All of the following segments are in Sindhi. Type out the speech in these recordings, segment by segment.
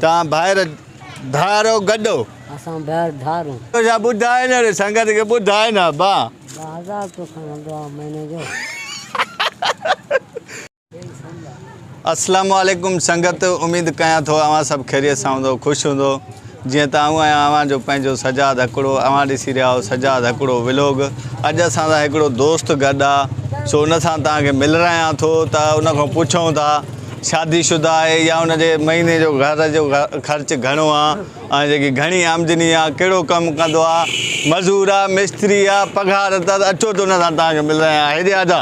تان ڀائر ڌارو گڏو. اسان ڀائر ڌارون. تنهنجا ٻڌائي نه ري سنگت کي ٻڌائي نه با. با هزار روپيو کڻ هلندو آ مهيني جو. اسلام عليڪم سنگت اميد ڪيان ٿو اوهان سڀ خيريت سان هوندو خوش هوندو جيئن ته آئون آهيان اوهان جو پنهنجو سجاد هڪڙو اوهان ڏسي رهيا آهو سجاد هڪڙو ولوگ اڄ اسان سان هڪڙو دوست گڏ آ سو ان سان توهان کي ملرايان ٿو ته ان کان پڇون ٿا شادي شده آهي يا ان جي مهيني جو گهر جو خرچ گهڻو آ ۽ جيڪي گهڻي آمدني آ ڪهڙو ڪم ڪندو آ مزور آ مستري آ پگهار ته اچو ته ان سان توهان کي ملران آهيان هيڏي آجا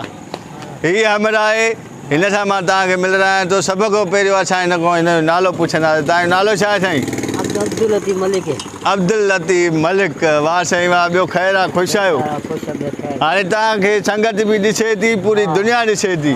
هي همراهه آهي هن سان مان توهان کي ملران آهيان ٿو سڀ کان پهريون اسان هن کان هن جو نالو پڇنداسين توهان جو نالو ڇا آهي سائين عبداللطيف ملڪ عبداللطيف ملڪ واه سائين واه ٻيو خير آ خوش آهيو هاڻي توهان کي سنگت به ڏسي ٿي پوري دنيا ڏسي ٿي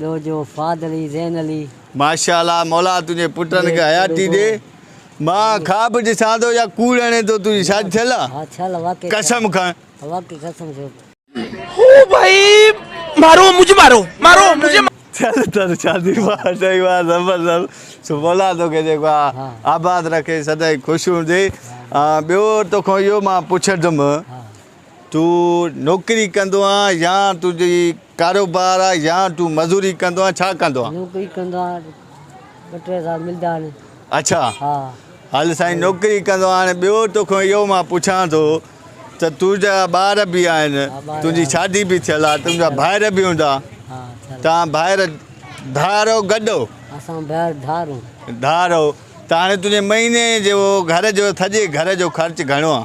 ڏوهه جو فهد علي زين علي. ماشاء الله مولا تنهنجي پٽن کي حياتي ڏي مان خواب ڏسان ٿو يا ڪوڙ هڻي ٿو تنهنجي شادي ٿيل آ قسم کڻ. هو ڀائي مارو مجھي مارو مارو مجھي. چل تر شادي واه سائين واه زبردست مولا توکي جيڪو آ آباد رکي سدائين خوش هوندي ٻيو توکان اهو مان پڇندم تون نوڪري ڪندو آهين يا تنهنجي ڪاروبار آهي يا تون مزوري ڪندو آهين ڇا ڪندو آهين. نوڪري ڪندو آهيان ٻه ٽي هزار ملدا آهن. اڇا هل سائين نوڪري ڪندو آهين ٻيو توکان اهو مان پڇان ٿو ته تنهنجا ٻار به آهن تنهنجي شادي به ٿيل آهي تنهنجا ڀائر به هوندا توهان ڀائر ڌار او گڏ او. اسان ڀائر ڌار او. ڌار او ته هاڻي تنهنجي مهيني جو گهر جو سڄي گهر جو خرچ گهڻو آهي.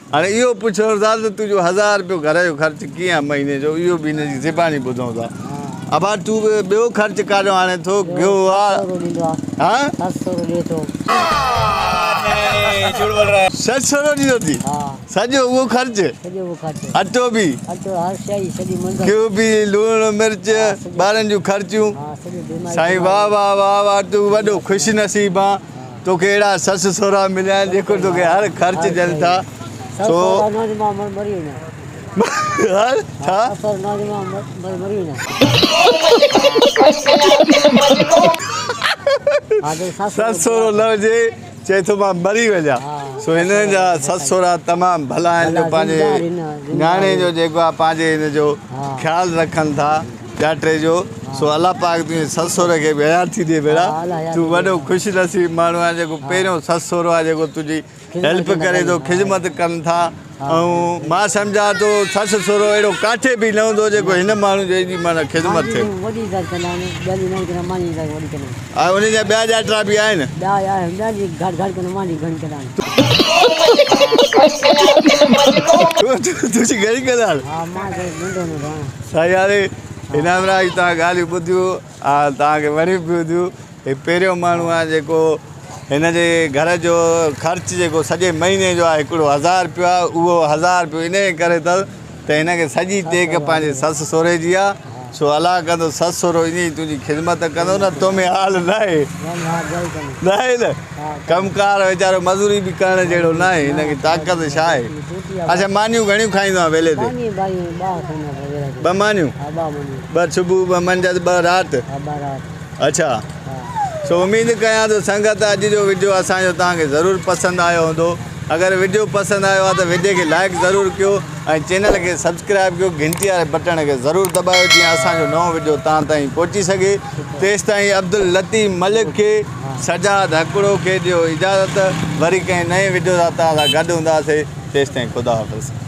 هاڻي اهو پڇڻ ٿا ته تنهنجو هزار رپيو گهر جو خرچ ڪيئن آهي مهيني جو اهو به هن جي زباني ٻڌون ٿا ابا تون به ٻيو خرچ ڪاڏيو آڻي ٿو گهيو آ سسرو ڏيندو ٿي سڄو اهو خرچ اٽو به گهيو به لوڻ مرچ ٻارن جون خرچيون سائين واهه واهه واهه واهه تون وڏو خوش نصيب آن توکي اهڙا سس سهرا مليا آهن جيڪو توکي هر خرچ ڏين ٿا سو هر ڇا؟ سس سهرو نه هجي چئي ٿو مان مري وڃان سو هنن جا سس سهرا تمام ڀلا آهن جو پنهنجي نياڻي جو جيڪو آهي پنهنجي هن جو خيال رکن ٿا ٻيا ٽي جو سو الله پاڪ تنهنجي سس سهري کي به حيات ٿي ڏي ڀيڻا تون وڏو خوش نصيب ماڻهو آهين جيڪو پهريون سس سهرو آهي جيڪو تنهنجي هيلپ ڪري ٿو خدمت ڪن ٿا ۽ مان سمجهان ٿو سس سهرو اهڙو ڪاٺي به نه هوندو جيڪو هن ماڻهو جي ايڏي معنيٰ خدمت ٿئي ۽ ان جا ٻيا ڄاٽرا به آهن تنهنجي گهڻي ڪلاڻ سياري انعام راء جون توهان ڳالهيون ٻڌيون آ توهان کي وڻيون به هونديون هي پهريون ماڻهو آهي جيڪو هن جي گهر جو خرچ جيڪو سڄي مهيني جو آهي هڪڙو هزار رپيو آهي اهو هزار رپيو انهي ڪري اٿس ته هن کي سڄي ٽيڪ پنهنجي سس سهري جي آ سو الله ڪندو سس سهرو ائين ئي تنهنجي خدمت ڪندو نه تو ۾ حال ناهي ناهي نه ڪم ڪار ويچارو مزوري به ڪرڻ جهڙو ناهي هن کي طاقت ڇا آهي اچا مانيون گهڻيون کائيندو آهي ويلي تي ٻه مانيون ٻه صبح ٻه منجهس ٻه رات اچا سو اميد ڪيان ٿو سنگت اڄ جو وڊيو اسان جو توهان کي ضرور پسند آيو هوندو اگر وڊيو پسند آيو آهي ته وڊيو کي لائڪ ضرور ڪيو ۽ چينل کي سبسڪرائب ڪيو گهنٽي واري بٽڻ کي ضرور دٻايو جيئن اسان جو نئون وڊيو توهان تائين پهچي سگهي تيستائين عبداللطيف ملڪ کي سجاد هڪڙو کي ڏيو اجازت وري ڪنهن نئين وڊيو ساٿ سان گڏ هونداسين تيستائين خدا حافظ.